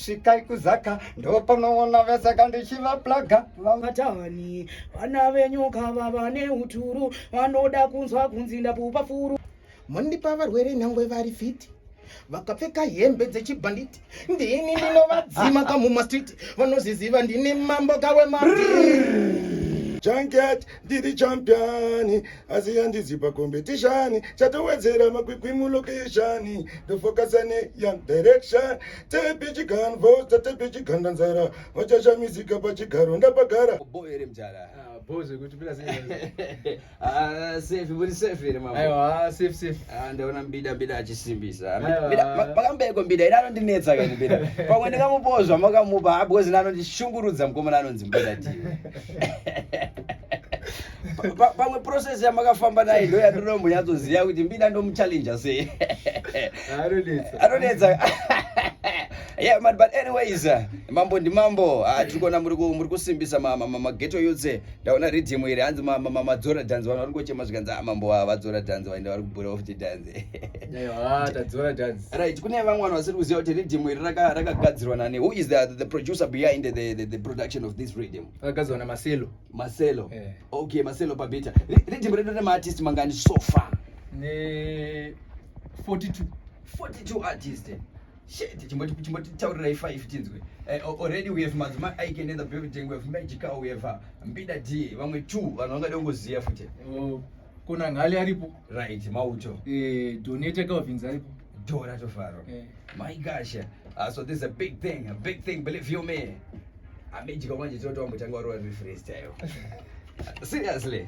svikai kuzaka ndopanoona vese kandichivaplaga vatani vana venyu kava vane uturu vanoda kunzwa kunzi ndapupa furu mondipa varwere nyangwe vari fiti vakapfeka hembe dzechibhanditi ndini ndinovadzima kamumastreet vanoziziva ndini mambo kawemaa ndiri champion asi yandizi pacompetition chatowedzera makwikwi mulocation ndofokasa neyoung direction tepi chiganvo tatepi chiganda nzara vachashamisika pachigaro ndapagara boere mjara ndaona mbida mbida achisimbisa pakambeiko mbida ida anondinetsa kanibida pamwe ndikamupozva makamupa abwezina anondishungurudza mukomana anonzi mbida tiwe pamwe process yamakafamba naye ndo yatinombonyatsoziva kuti mbida ndomuchallenja sei anonetsa yeah man but anyways uh, mambo ndi mambo uh, tiri kuona muri muri kusimbisa mageto yotse ndaona ridhimu iri hanzi madzora dhanzi vanhu vari kuchema zvikanzi ah, mambo ah, vadzora dhanzi vaenda vari kubura off the dhanzi right kune vamwe vanhu vasiri kuziva kuti riddim iri rakagadzirwa nani who is the, the producer behind the, the, the production of this riddim rakagadzirwa namaselo maselo yeah. okay maselo pabeta riddim redu rine maartist mangani so far ne 42 42 artist shit chimbotitaurirai five tinzwe eh, already we have madzimai aike in the building we have magical we have uh, mbida d vamwe two vanhu vangade kungoziva futi oh. Kona ngali aripo. Right, mauto. Eh, donate Calvins aripo. Dora tofaro. Eh. My gosh. Uh, so this is a big thing, a big thing, believe you me. Amejika manje toto wambotanga wari wari freestyle. Seriously.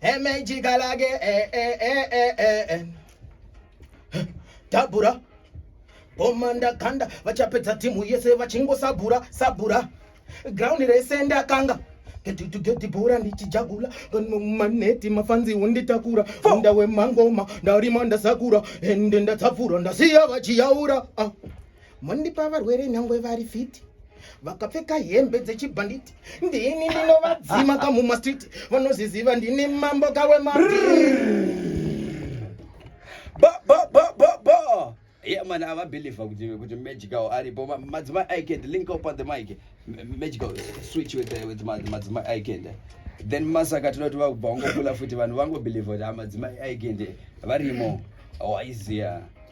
emejika lake eh, eh, eh, tabura bomanda ganda vachapedza timu yese vachingosabura sabura ground rese ndakanga getitugedibhura ndichijagula maneti mafanzi unditakura unda wemangoma ndarima ndasakura ende ndatsapfura ndasiya vachiyaura ah. Mondipa varwere nyangwe vari fiti vakapfeka hembe dzechibhanditi ndini ndinovadzima kamumastreet vanoziziva ndini mambo kawe man avabelieve kuti kuti magical aripo madzimai icand link up at the mic magical switch with, the, with madzimai icand then masaka tinoti vakubva wangokula futi vanhu vangobelieve kuti amadzimai icand varimo waiziya oh,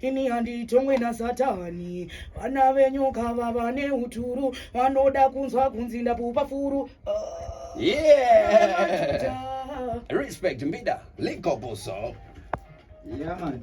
ini handitongwe nasatani vana venyu kava vane uturu vanoda kunzwa kunzi ndapupa furu uh, yeah. Respect Mbida, link up also. Yeah, man.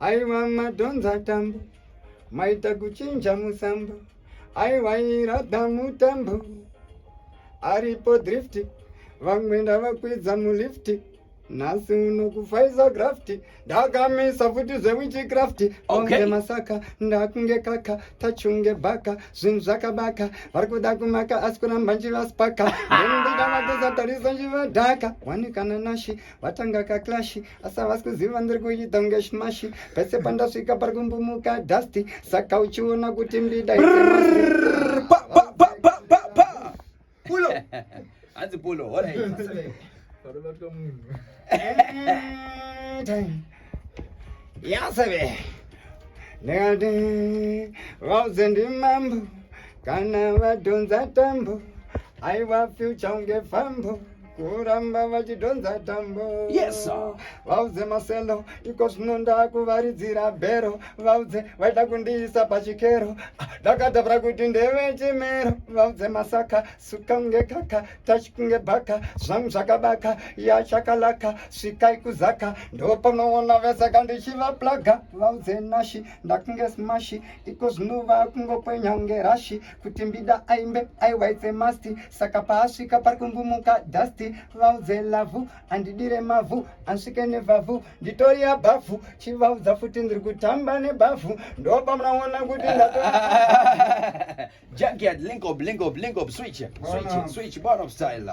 aiwa madhonza tambo maita kuchinja musambo aiwa irada mutambo aripo drift vamwe ndavakwidza mulifti nhasi uno kufaiza grafti ndakamisa futi zvewichi crafti onge okay. masaka ndakunge kaka tachunge baka zvinhu zvakabaka vari kuda kumaka asi kuramba njivaspaka ndendikanakuzatarisa njivadhaka wanikana nashi vatanga kaklashi asi havasi kuziva ndiri kuita kunge shimashi pese pandasvika pari kumbumuka dusty saka uchiona kuti mbida hanzi pulo yaseve ndikati vauze ndimambo kana vadhonza tambo aiwa fyucha unge fambo kuramba vachidhonza tambo yes vaudze maselo iko zvino ndakuvaridzira bhero vaudze vaida kundiisa pachikero ndakatavira kuti ndeve chimero vaudze masaka suka kunge kaka tachi kunge bhaka zvangu zvakabaka yachakalaka svikai kuzaka ndopanoona vese kandichivaplaga vaudze nashi ndakunge smashi iko zvino vakungokwenya kunge rashi kuti mbida aimbe aiwaitse masti saka paasvika pari kumbumuka dasti vaudze lavhu andidire mavhu ansvike nevhavhu nditori abhavhu chivaudza futi ndiri kutamba nebhavhu ndopamunaona kuti ndato Junkyard, link up, link up, link up, switch, switch, switch, bottom style.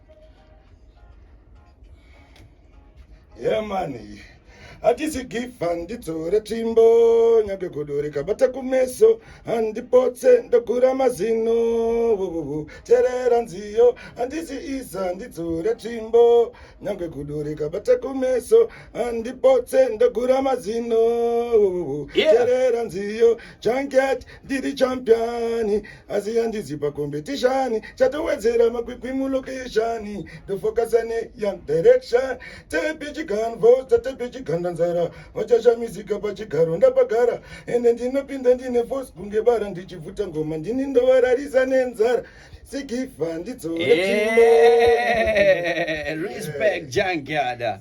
yemani hatisi gifa ndidzore tsvimbo nyage godo rikabata kumeso handipotse ndogura mazino vuvuvu terera nziyo handisi iza ndidzore tsvimbo nyage godo rikabata kumeso handipotse ndogura mazino vuvuvu terera nziyo janket ndiri champiani asi yandizi pakombetishani chatowedzera makwikwi mulokeshani ndofokasane young direction tepi chiganvo tatepi chiganda nzara vachashamisika pachigaro ndapagara ende ndinopinda ndine fos kunge bara ndichibvuta ngoma ndini ndovararisa nenzara sigifa ndidzorechimo eh, respect jangiada yeah.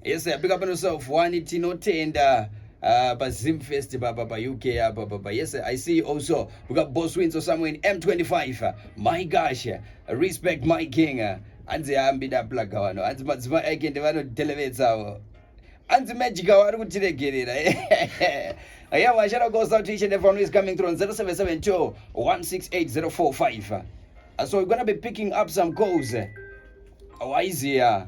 yes big up on yourself wani tinotenda uh, pa zim fest papa pa uk apa papa yes i see you also we got boss wins or somewhere in m25 my gosh respect my king hanzi ambida plaga wano hanzi madzimai ake ndevanodelevedzavo hanzi magic awo ari kutiregerera yeah washara gosa to each and everyone who is coming through on 0772 168045 so we're gonna be picking up some calls waiziya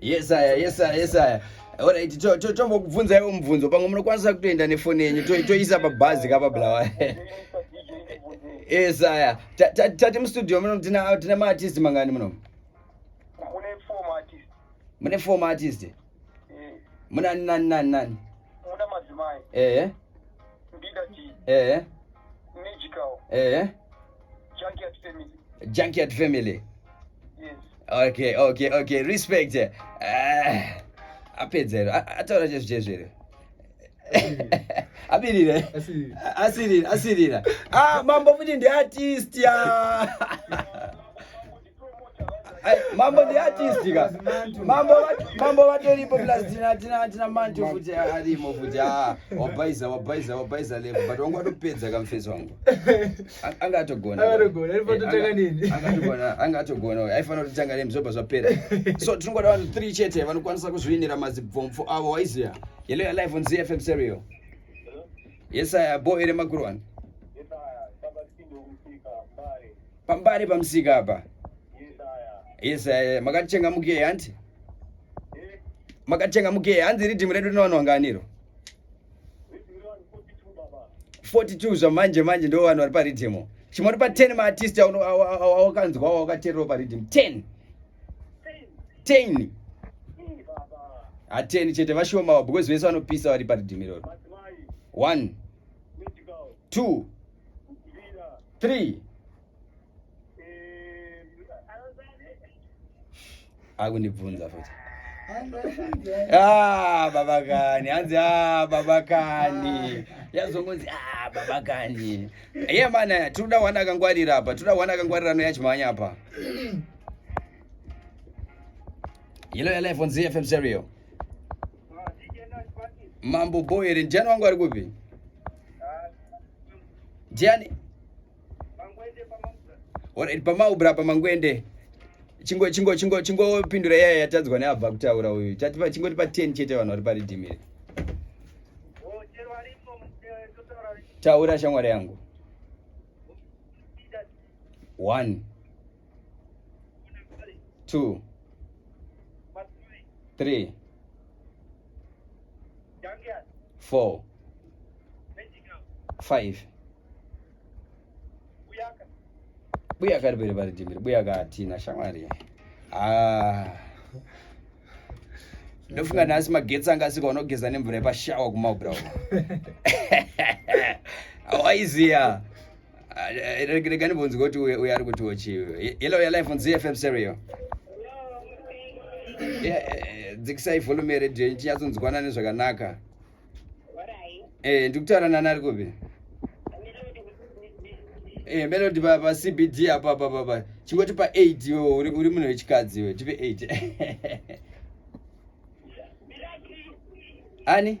yes aya yes aya yes aya orit tombokubvunzaiwo mubvunzo pamwe munokwanisa kutoenda nefoni yenyu toisa pabhazi kapablawa yes aya tati mustudio muno tine maartist mangani muno mune four maartist Eh. Muna nani nani nani? Muna madzimai. Eh. Ndida chi. Eh. Magical. Eh. Junkyard family. Junkyard family. Yes. Okay, okay, okay. Respect. Eh. Uh, apedzero. Ataura chezvo chezvo here? apirire asirira asirira ah mambo futi ndiartist ya mambo ndi artist ka mambo mambo vatoripo plus tina tina tina mantu futi arimo futi ah wabhaiza wabhaiza wabhaiza level but wangu atopedza kamfesi wangu anga atogona atogona ndipo totanga eh, nini anga atogona anga atogona aifanira kuti tanga nemzoba zvapera so tinongoda vanhu 3 chete vanokwanisa kuzviinira mazibvomfo avo waiziya yellow ya live on ZFM serial yes i boy remakurwani pambari pamusika apa yes eh, makatitenga mukei hanti makatenga mukei hanzi ridhimu redu rinowanwanganiro 42 zvamanje manje ndo vanhu vari paridhimu chimwe uri pa 10 maartist awakanzwa wawakateerero paridhimu 10 10 hateni chete vashomawo because vese vanopisa vari paridhimu iroro 1 2 three akundibvunza futi ah, baba kani hanzi ah, baba kani yazongonzi ah, baba kani ye mana tinoda wana akangwarira apa tinoda wana akangwarira no yachimhanya apa yelo yalife on zfm serio Mambo boy here Jani wangu ari kupi? Jani Alright pamaubra pamangwende chingo chingo chingo chingo pindura yaya yatadzwa neabva kutaura uyu chatipa chingoti pa 10 chete vanhu vari paridhimire oh, taura shamwari yangu 1 two three four five buya kari bere vari jimiri buya katina shamwari ah. ndofunga nhasi magetsi anga asika unogeza nemvura yepashawa kumaubra awaiziya Ah, eh, eh, rega ndibvunzike kuti uyo ari kutiwo chii yellow ya life on zfm serio eh, dzikisai volume yeredio ichinyatsonzwanana nezvakanaka ndikutaura nani ari kupi melody pacbd apa papapa chingoti pa eight iwe uri munhu wechikadzi iwe tipe eight ani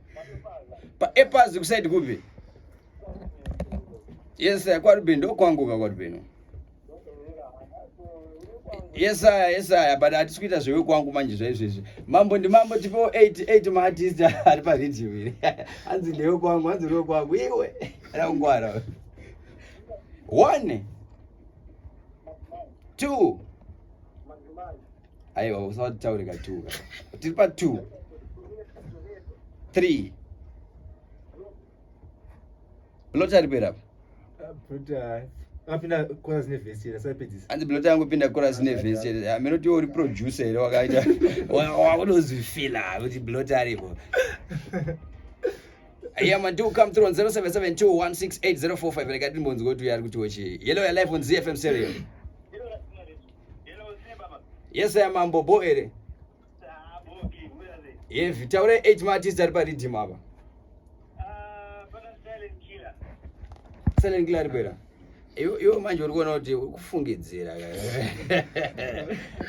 paepazi kusaidi kupi yes kwaruben ndokwanguka kwaruben yesaya yesaya but hatisi kuita zvewe kwangu manje zvaizvezvi mambo ndimambo tipewo 88 maartist ari paridhiyo iri hanzi ndewe kwangu hanzi ndewe kwangu iwe rakungwara one two aiwa usataure ka two ka tiri pa two three blota ari pera anzi blota yangu pinda coras nevhesi chete hameno tiwo uri producer here wakaita wakunozvifila kuti blota aripo Yeah, man, do come through on 0772168045. Like I didn't want to go to Yargu to Ochi. Yellow, your life on ZFM Stereo. yes aya mambo bo ere hevi taura 8 maartist ari paridhim apa silent killer ari kuera iwo manje uri kuona kuti uri kufungidzira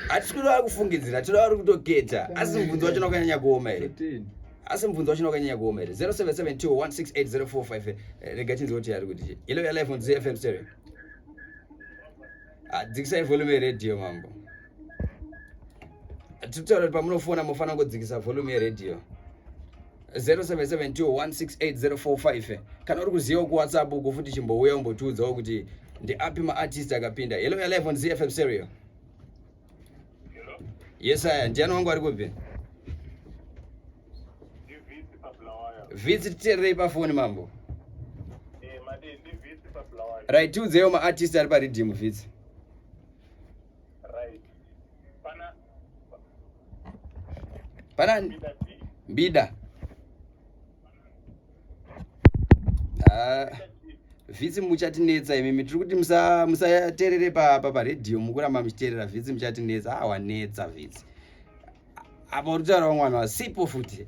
hatisi kuti vari kufungidzira tinoda vari kutoketa asi mubvunzo wacho nakanyanya kuoma here asi mubvunzo wacho nakanyanya kuoma here 0772168045 rega tinzi kuti ari kuti yellow ya life on zfm stereo Ah, dzikisai volume yeradio mambo titaura kuti pamunofona mofana kungodzikisa volume yeradio 0772168045 eh. kana uri kuzivawo kuwhatsapp uko futi chimbouya umbotiudzawo kuti ndiapi maartist akapinda hello ya live on zfm serio Yes, aya ndiani wangu ari kubve? Visit terei pafoni mambo. Eh, right, tiudzewo maartist ari pariddim vits. Right. Pana Pana Mbida. Mbida. ah, vhitsi muchatinetsa imimi tiri kuti musaterere papa paredhiyo mukuramba muchiterera vhitsi muchatinetsa awanetsa ah, vhitsi apa uri kutaura vamwana vasipo futi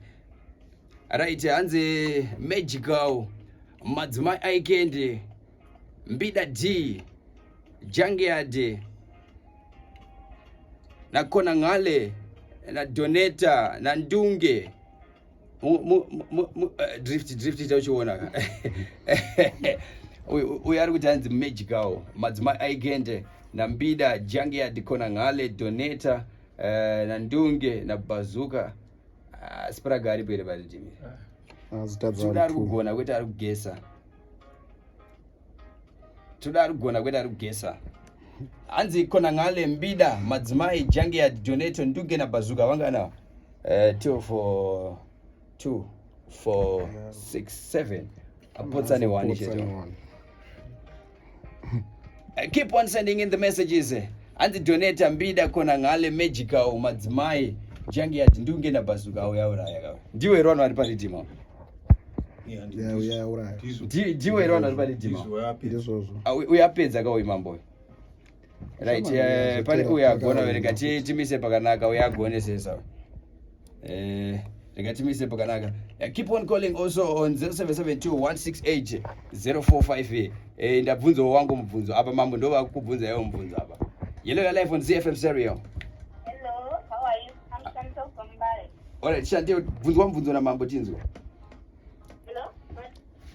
right hanzi magical madzimai aikendi mbida d jangeade nakonangale nadoneta nandunge eh, drift drift ita uchiona ka uyo ari kuti anzi magical madzimai aigende nambida jangia dikona ngale doneta eh, nandunge nabazuka ah, spraga aripo here vatidimi ah. ah, zita ari kugona kwete ari kugesa toda ari kugona kwete ari kugesa hanzi kona ngale mbida madzimai jange ya donato nduge na bazuka vangana uh, eh, two for two for yeah. six seven apotsa ne one cheto eh, keep on sending in the messages eh. hanzi donata mbida kona ngale magical madzimai jange yati ndunge na bazuka auyauraya kawe ndiwe rwano ari paridima jiwe iri vanhu vari pane jima uyo apedza ka uyu mambo uyu right eh, pane uyo agona rega timise pakanaka uyo agone sesa uyu eh, rega timise pakanaka eh, keep on calling also on 0772168045 ndabvunzawo wangu mubvunzo apa mambo ndovakubvunza iwo mubvunzo apa yellow your life on zfm serial Alright, shantie bvunzwa mubvunzo namambo tinzwa.